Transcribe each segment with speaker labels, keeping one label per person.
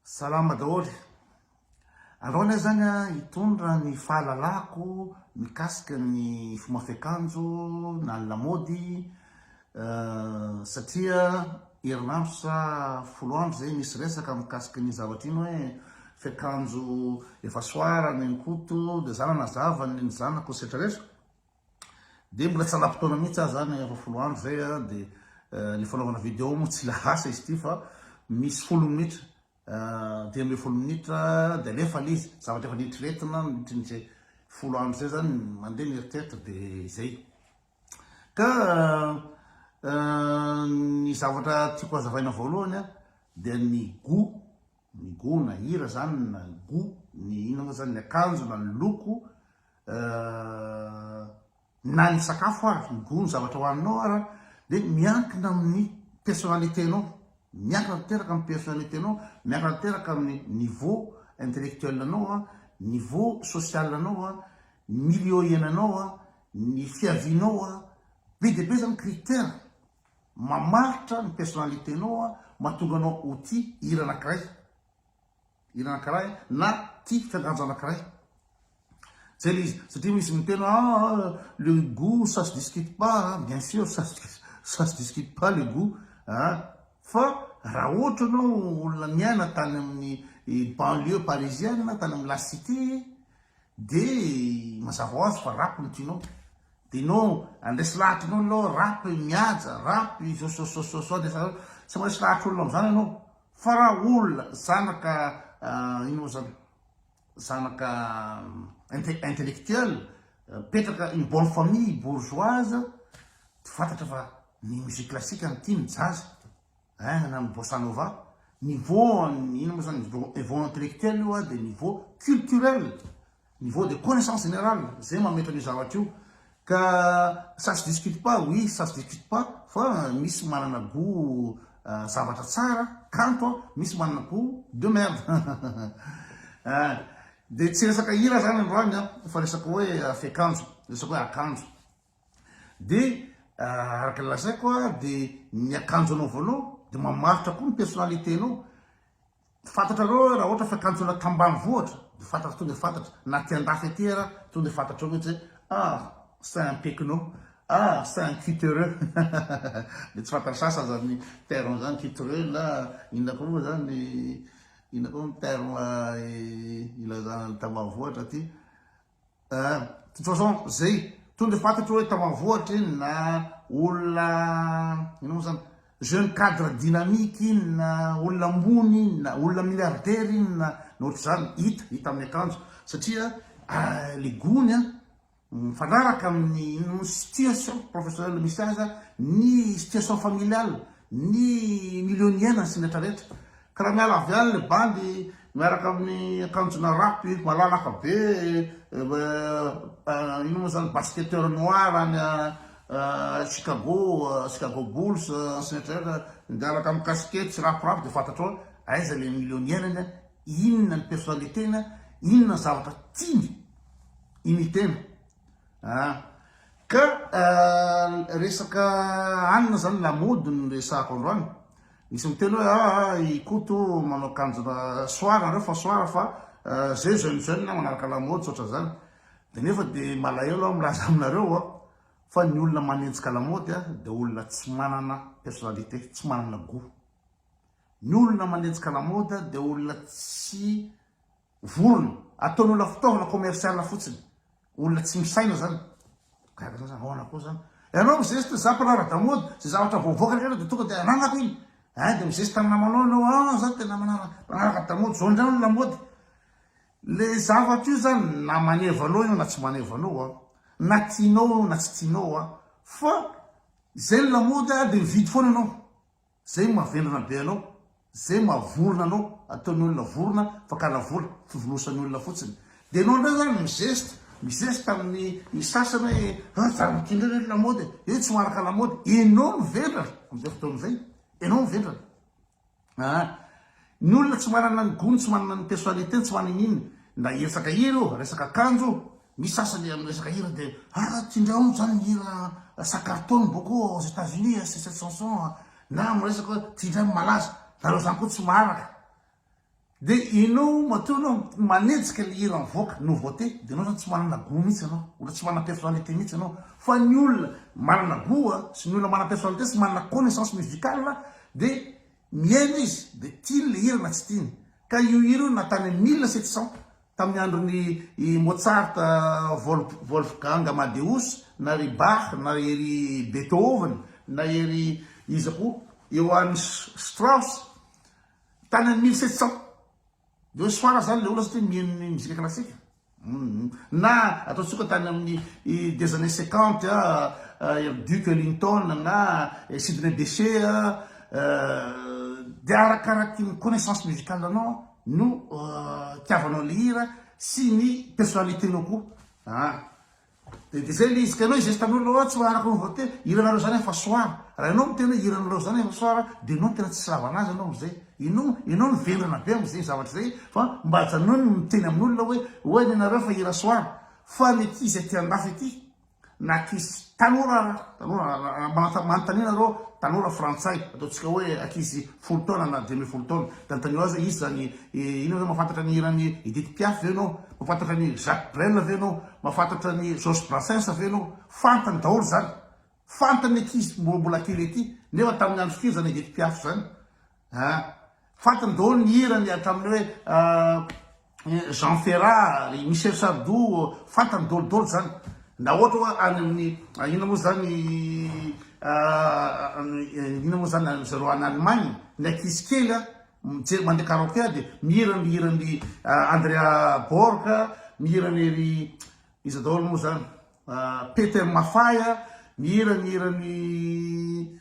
Speaker 1: Salama daholo. Aleo anie zany an hitondra ny fahalalako mikasika ny fomba fiakanjo na ny lamaody satria herinandro sa folo andro zay misy resaka mikasika iny zavatra iny hoe fiakanjo efa soarana eny koto de za nanazava ny zanako sy retraretra Dia mbola tsy hanampy taona mihitsy aho zany efa folo andro zay a, dia le fanaovana video moa tsy lahasa izy ity fa misy folo minitra dimy ambin'ny folo minitra dia alefa le izy, zavatra efa neritreretina nandritry ny zay folo andro zay zany mandeha ny eritreritra dia izay. Ka ny zavatra tiako hazavaina voalohany a dia ny gout Ny go na hira zany na go ny inona moa zany ny akanjo na ny loko eh, na ny sakafo ary ny go ny zavatra hohaninao ary dia miankina amin'ny personnalité nao miankina tanteraka amin'ny personnalité nao miankina tanteraka amin'ny niveau intellectuel anao a niveau social anao a milieu iainanao a ny fiavianao a be dia be zany critère Mamaritra ny personnalité nao an, mahatonga anao ho tia hira anakiray, hira anakiray na tia fiankanjo anakiray. Zay le izy, satria misy miteny hoe ah ah le gout ça se discute pas an, bien sûr ça se ça se discute pas le gout an, fa raha ohatra anao olona niaina tany amin'ny banlieue parisienne, tany amin'ny la cité, De mazava ho azy fa rap no tianao de enao andresy lahatra enao aloha rap i mihaja rap i zososososo andresy lahatra tsy maresy lahatra olona amzany enao fa ra olona zanaka ino mo zany zanaka intellectuel mipetraka une bonne famille bourgeoise de fantatra fa ny musique classique no tiany jazz Hein na ny bossa nova, niveau an'ny inona moa zany niveau intellectuel io dia niveau culturel, niveau de connaissance générale zay mametra an'io zavatra io ka ça se discute pas, oui ça se discute pas fa misy manana gout zavatra tsara, kanto, misy manana gout de merde hein dia tsy resaka hira zany androany fa resaka hoe fekanjo, resaka hoe akanjo. Dia araka ny lazaiko a, dia ny akanjo anaovanao dia mamaritra koa ny personnalité-nao. Fantatrareo hoe raha ohatra fiakanjoana tambanivohitra dia fantatra tonga dia fantatra, na aty andafy aty ara tonga dia fantatrao mihitsy hoe ah c'est un pecno, ah c'est un cutereux dia tsy fantan'ny sasany izany terme izany cutereux na inona koa moa izany, inona koa ny terme ilazana ny tambanivohitra aty. Eh, de toute façon zay to le fait ohatra hoe tao avohatra iny na olona inona moa zany jeune cadre dynamique iny na olona ambony iny na olona milliardaire iny na na ohatr'izany hita hita amin'ny akanjo satria eh, le gony a mifanaraka amin'ny inona moa situation professionnelle misy azy a ny situation familiale ny milieu niainany sy ny rehetra rehetra Kara miala avy any le bandy miaraka amin'ny akanjona rap i malalaka be ino moa zany basketteur noir any Chicago Chicago Bulls sy ny rehetra miaraka amin'ny casquette sy rap rap de fantatrao hoe aiza le millionnier-ny a inona ny personnalité-ny a inona ny zavatra tiany imiter-na ah ka resaka anona zany la mode no resahako androany Nisy niteny hoe ah ah i Koto manao kanjo soir nareo fa soir fa zay jeune jeune manaraka la mode tsotra zany de nefa de malahelo aho milaza aminareo a fa ny olona manenjika la mode a de olona tsy manana personnalité tsy manana gout ny olona manenjika la mode de olona tsy Vorona, ataon'ny olona fitaovana commercial fotsiny. Olona tsy misaina zany. Gaga za zany, aona koa zany. Ianao mizesta za mpiraharaha ara-damody, zay zavatra vao avoaka rehetra dia tonga dia ananako iny. Hein, dia mizesta amin'ny namanao ianao, ah za tena manara, mpanaraka ara-damody, zao indray ny lamaody. Le zavatra io zany na maneva anao io na tsy maneva anao an, na tianao io na tsy tianao an, fa zay ny lamaody dia mividy foana ianao. Zay mavendrana be anao, zay maha vorona anao, ataony olona vorona, fakana vola, fivonosany olona fotsiny. De enao ndray zany mizeste, mizeste aminy ny sasany hoe ah zany ity ndray ve ny lamaody e, io tsy maharaka lamaody, enao no vendrana amizay fotoana zay, enao no vendrana. Ah. Ny olona tsy manana ny gony, tsy manana ny personnalités-ny, tsy manana inona, ndra hiresaka hira io, resaka akanjo io, misy sasany amin'ny resaka hira dia ah tindrao moa zany ny hira Sakarton beaucoup aux Etats Unis ah c'est cette chanson ah, na amin'ny resaka hoe tindrao ny malaza, nareo zany koa tsy maharaka, dia enao matoa enao manejika le hira mivoaka, nouveauté, dia enao zany tsy manana gout mihitsy enao, olona tsy manana personnalité mihitsy enao, fa ny olona manana gout sy ny olona manana personnalité sy manana connaissance musicale dia Mihaino izy dia tiany le hira na tsy tiany. Ka io hira io na tany amin'ny mille sept cent tamin'ny andron'i i Mozart, Wolf, Wolfgang Amadeus, na ry Bach, na ery Beethoven, na ery iza koa, Johann Strauss, tany amin'ny mille sept cent. Dia hoe soara zany le olona satria mihaino ny mozika klasika. Humm. Na ataontsika tany amin'ny des années cinquante ery Duc Ellington na Sidney Bechet dia arakaraky ny connaissance musicale anao no itiavanao ilay hira sy ny personnalité-nao koa. Dia dia zay le izy ka ianao izesta anao lalao tsy araka ny vote hiranareo zany efa soir raha ianao miteny hoe hiranareo zany efa soir dia ianao no tena tsisy lavana azy ianao amizay ianao ianao no vendrana be amizay zavatra izay fa mba ajanony ny miteny amin'olona hoe hoe ny anareo efa hira soir fa ny ankizy aty andafy aty na ankizy tanora ara tanora manontania nareo tanora frantsay ataontsika hoe ankizy folo taona na dimy ambin'ny folo taona dia anontanio azy hoe iza zany inona ianao mahafantatra ny hiran'i Edith Piaf ve ianao Mahafantatra an'i Jacques Brel ve ianao? Mahafantatra an'i Georges Brassens ve ianao? Fantany daholo izany. Fantany ny ankizy mbola mbola kely ety, nefa tamin'ny andro firy izany Edith Piaf izany a? Fantany daholo ny hirany hatramin'ny hoe Jean Ferrat, ry Michel Sardou, fantany daholo daholo izany. Na ohatra hoe any amin'ny inona moa izany inona moa izany ry zareo any Allemagne, ny ankizy kely a, mijery mandeha karaoke aho dia mihira ny hiran'i Andrea Borg, mihira ny ry iza daholo moa zany Peter Maffay, mihira ny hiran'i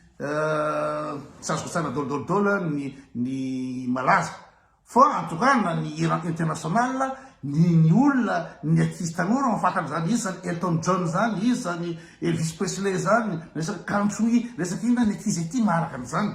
Speaker 1: tsy azoko tsara dol dol dol ny ny malaza fa en tout cas na ny hira international ny ny olona ny ankizy tanora mahafantan'ny zany izy zany Elton John zany izy zany Elvis Presley zany resaka country resaka inona ny ankizy aty maharaka an'izany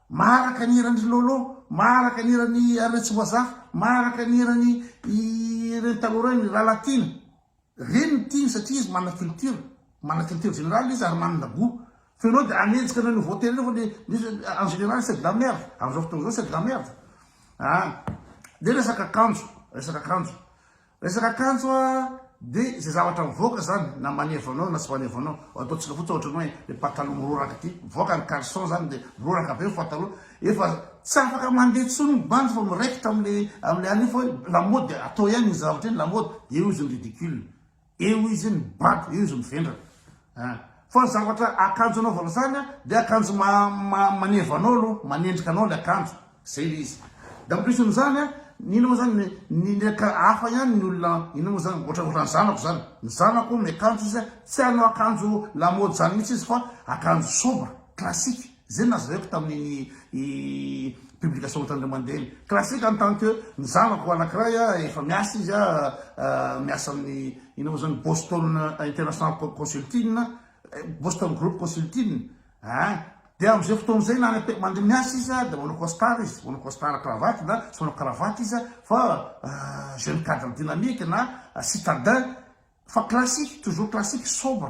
Speaker 1: Maharaka ny hiran'i Lolo, maharaka ny hiran'i Arina Tsimbazafy, maharaka ny hiran'i ireny taloha ireny, Ralatiana. Ireny no tiany satria izy manana culture, manana culture générale izy ary manana gout. Fa ianao dia hanenjika an'ireo voatery ireo fa le le en général c'est de la merde, amin'izao fotoana izao c'est de la merde. An! dia resaka akanjo, resaka akanjo. Resaka kanjo a de ze zavatra mivoaka zany na manevo anao na tsy manevo anao ataontsika fotsiny ohatrany hoe le pataloha miroraka ity mivoaka ny caleçon zany de miroraka be ny pataloha efa tsy afaka mandeha tsony ny bandy fa miraikitra amle amle anio fa hoe la mode atao ihany ny zavatra iny la mode de eo izy ny ridicule eo izy ny bado eo izy mivendrana An! Fa ny zavatra akanjo anaovana zany an dia akanjo ma ma maneva anao aloha, manendrika anao ilay akanjo, zay ilay izy. Dia ampitrisiny zany an, ny inona moa zany ny ny aka hafa ihany ny olona inona moa zany ohatra ohatra ny zanako zany, ny zanako miakanjo izy an, tsy hanao akanjo lamôdy zany mihitsy izy fa akanjo sobre, classique. Zay no nazavaiko tamin'iny publication ohatran'ireo mandeha iny. Classique en tant que ny zanako anakiray efa miasa izy, miasa amin'ny inona moa izany, Boston International Consulting, Boston Group Consulting ah, dia amin'izay fotoana izay na any mandeha miasa izy dia manao costard izy, manao costard cravate na tsy manao cravate izy fa jeune cadre dynamique na citadin. Fa classique, toujours classique, sobre,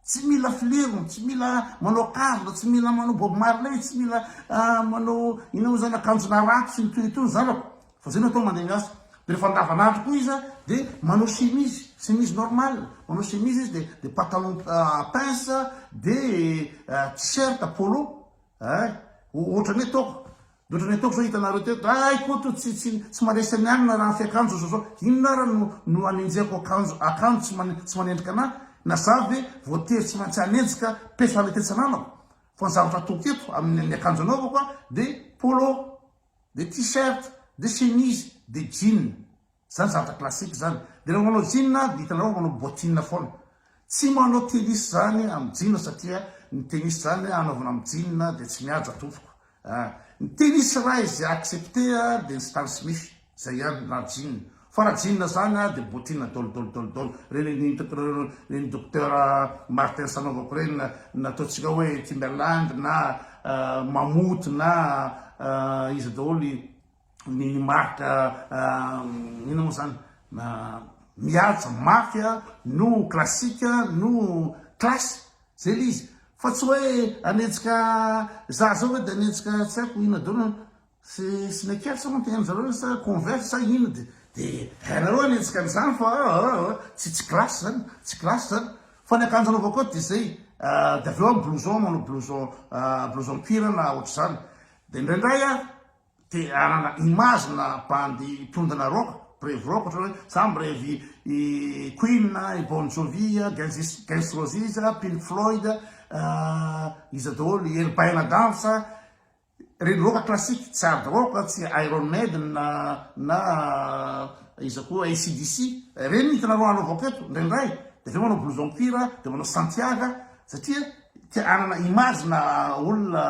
Speaker 1: tsy mila filerony, tsy mila manao kavina, tsy mila manao Bob Marley, tsy mila manao inona moa izany akanjona ratsy sy ny toy ny toy ny zanako, fa zay no atao mandeha miasa. Dia rehefa andavanandro koa izy dia manao chemise, chemise normale, manao chemise izy dia dia patalon pince dia t-shirt polo, eh, ohatran'ny hoe toaka. Mihoatra ny ataoko zao hitanareo teto ay koa to tsy tsy tsy maresy an'i Anna raha fiakanjo zao zao inona ara no no anenjehako akanjo akanjo tsy mane tsy manendrika anah na za ve voatery tsy maintsy hanenjika personnalité tsy ananako fa ny zavatra ataoko eto amin'ny ny akanjo anaovako a de polo de t-shirt de chemise de jean Zany zavatra classique zany. De raha manao jean a, de hitanareo fa manao bottine foana. Tsy manao tennis zany amin'ny jean satria ny tennis zany anaovana amin'ny jean de tsy mihaja tompoko a. Ny tennis raha izay accepter a de ny Stan Smith, zay ihany raha jean. Fa raha jean zany a de bottine dol dol dol dol. Reny ny hitako reo reny Docteur Martens anaovako reny na nataontsika hoe Timberland na Mammouth na iza daholo i ny marika inona moa zany mihaja mafy no classique no classe zay le izy fa tsy hoe anetsika za zao ve de anetsika tsy haiko inona daholo an sy sneakers moa tena zareo sa converse sa inona de de hainareo anetsika an'izany fa aa tsy tsy classe zany tsy classe zany fa ny akanjo anaovako eto de zay de avy eo aho blouson manao blouson blouson cuir na ohatr'izany de indraindray aho Te hanana image na bandy mpihondana rock, mpirevy rock ohatra hoe za mirevy i Queen, i Bon Jovi, Guns Guns Roses, Pink Floyd, iza daholo, i Elbaina Dance, reny rock classique, tsy hard rock, tsy Iron Maiden na na iza koa ACDC, reny hitanareo hanaovako eto indraindray, de avy eo manao blouson cuir, de manao Santiaga satria te hanana image na olona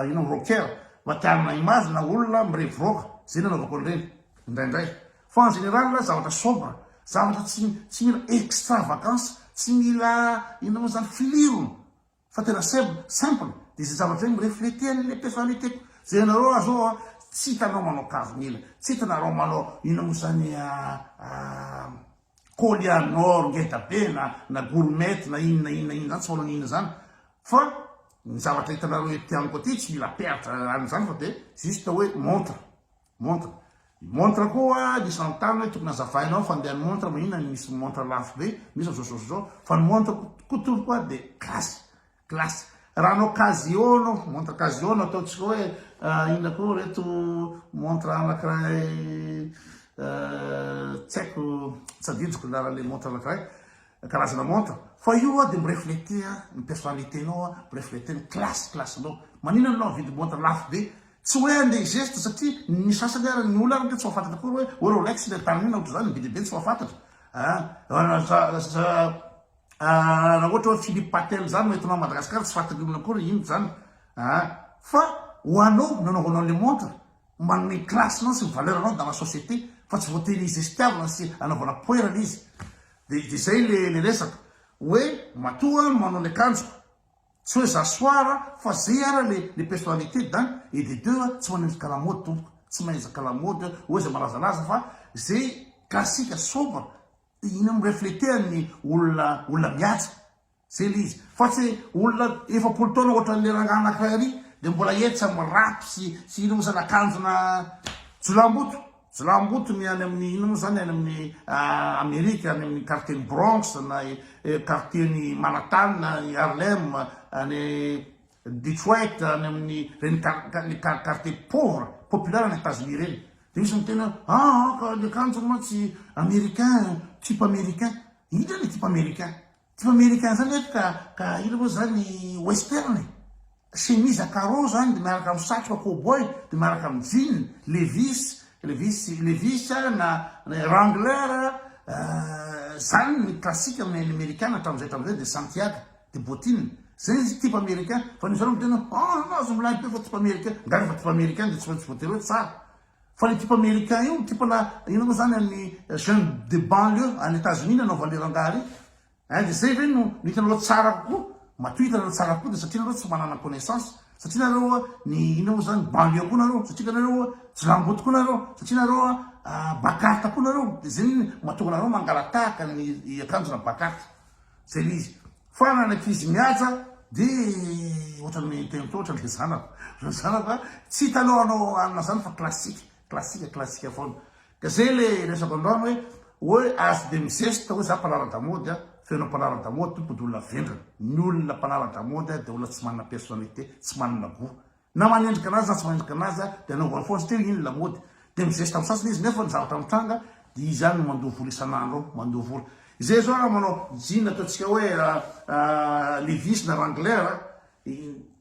Speaker 1: ino rocker. Matihanina image na olona mireviroaka, zay no anaovako an'ireny, indraindray. Fa en général a, zavatra sobre, zavatra tsy tsy mila extravagance, tsy mila inona moa zany, filirony, fa tena seb, simple, dia izay zavatra izay mi-refleter an'ilay personnalité-ko. Izay anareo ah zao ah, tsy hitanao manao karon'ila, tsy hitanareo manao inona moa zany ah, Collianor ngeda be na na gourmet na inona inona inona zany tsy manao inona zany fa ny zavatra hitanareo ety amiko aty tsy mila peratra any zany fa de juste hoe montre montre montre koa nisy nanontany hoe tokony azavainao fandeha ny montre maninona ny misy montre lafo be misy zao zao zao fa ny montre ko toroko ary de classe Classe. Raha anao Casio anao, montre Casio no ataontsika hoe inona koa reto montre anakiray tsy haiko tsy adidiko ny laran'ilay montre anakiray karazana montre fa io a dia mireflete ny personnalité nao a mireflete ny classe classe nao maninona anao mividy montre lafo be tsy hoe andeha geste satria ny sasany ary ny olona ary tsy mahafantatra koa hoe hoe rolex le tamin'inona ohatr'izany ny be dia be tsy mahafantatra a Ah, raha ohatra hoe Philippe Patel zany no entinao Madagascar tsy fatin'olona akory inona zany ah, fa ho anao nanaovanao le montre manome classe nao sy ny valeur anao dans la société fa tsy voatery izestiavina sy anaovana poerana izy de de zay le le resaka hoe matoa manao le kanjoko tsy hoe za soara fa zay ara le le personnalité d'un et de deux tsy manendrika la mode tompoko tsy mahenjaka la mode hoe zay malazalaza fa zay classique sobre Ino no refleter-n'ny olona olona mihaja? Zay le izy. Fa tsy olona efapolo taona ohatran'le rangahy anakiray ary dia mbola hetsa amin'ny rap sy sy ino moa zany akanjona jiolahimboto jiolahimboto ny any amin'ny ino moa zany any amin'ny Amerika any amin'ny quartier-n'ny Bronx na quartier-n'i Manhattan i Harlem any Detroit any amin'ny reny quartier pauvre populaire any Etazonia ireny dia misy miteny hoe ah ah ka ny akanjony mantsy americain type americain inona ny type americain type americain izany ve ka ka inona moa izany western e chemise à carreaux izany dia miaraka amin'ny satroka cowboy dia miaraka amin'ny jean levis levis levis na wrangler izany ny classique amin'ny amerikana hatramin'izay hatramin'izay dia santiago De bottine, zay izy type américain, fa ny zareo miteny hoe ah anao aza milay be fa type américain, nga refa type américain de tsy maintsy voatery hoe tsara? Fa le type américain io, type ana inona moa zany an'ny jeune de banlieue any Etats-Unis nanaovany le rangaha re? Hein de zay ve no no hitanareo hoe tsara kokoa? Matoa hitanareo tsara kokoa de satria nareo tsy manana connaissance, satria nareo a ny inona moa zany banlieue koa nareo, satria nareo a jilamboto koa nareo, satria nareo a a bakarta koa nareo, de zay mahatonga anareo mangalatahaka ny akanjona bakarta. Zay le izy. Fa na ny ankizy mihaja de ohatran'ny miteny hoe ohatran'ny le zanako. Le zanako a, tsy hita aloha hanao alina zany fa classique, classique, classique foana. Ka zay le resako androany hoe, hoe azo de mizesta hoe za mpanara-damaody a, feno mpanara-damaody tompo de olona vendrana. Ny olona mpanara-damaody a de olona tsy manana personnalité, tsy manana gout. Na manendrika anazy na tsy manendrika anazy dia anaovany foana satria iny lamaody. Dia mizesta amin'ny sasany izy nefa ny zavatra mitranga dia izy ihany no mandoa vola isan'andro ao, mandoa vola. Izay izao raha manao jean ataontsika hoe levis na wrangler,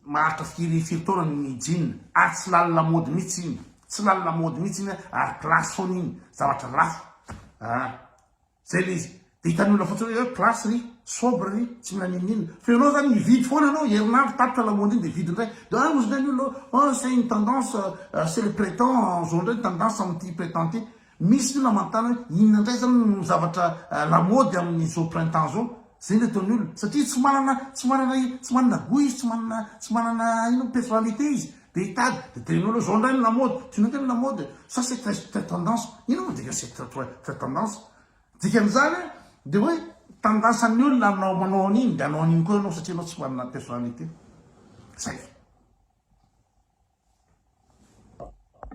Speaker 1: maharitra firy firy taona ny jean ary tsy lany lamaody mihitsy iny, tsy lany lamaody mihitsy iny ary place foana iny, zavatra lafo. Zay le izy. De hitan'ny olona fotsiny hoe classe ry, sobre ry, tsy mila n'inon'inona. Fa ianao zany mividy foana anao, herinandro tapitra lamaody iny de vidy indray. De ah ozy ndray ny olona oh c'est une tendance, c'est le prétend zao ndray ny tendance amin'ity prétend ity. Misy ny olona manontany hoe inona ndray zany no zavatra lamaody amin'izao printemps zao. Zay ny ataon'ny olona. Satria tsy manana, tsy manana, tsy manana gout izy, tsy manana, tsy manana inona, personnalité izy. Dia hitady, dia teneno aloha, izao indray ny lamaody, tsy nety ny lamaody, ça c'est très très tendance, inona moa dikany c'est très très très tendance? Dikan'izany hoe, dia hoe tendance-n'ny olona hanao, manao an'iny, dia hanao an'iny koa ianao satria ianao tsy manana personnalité. Zay.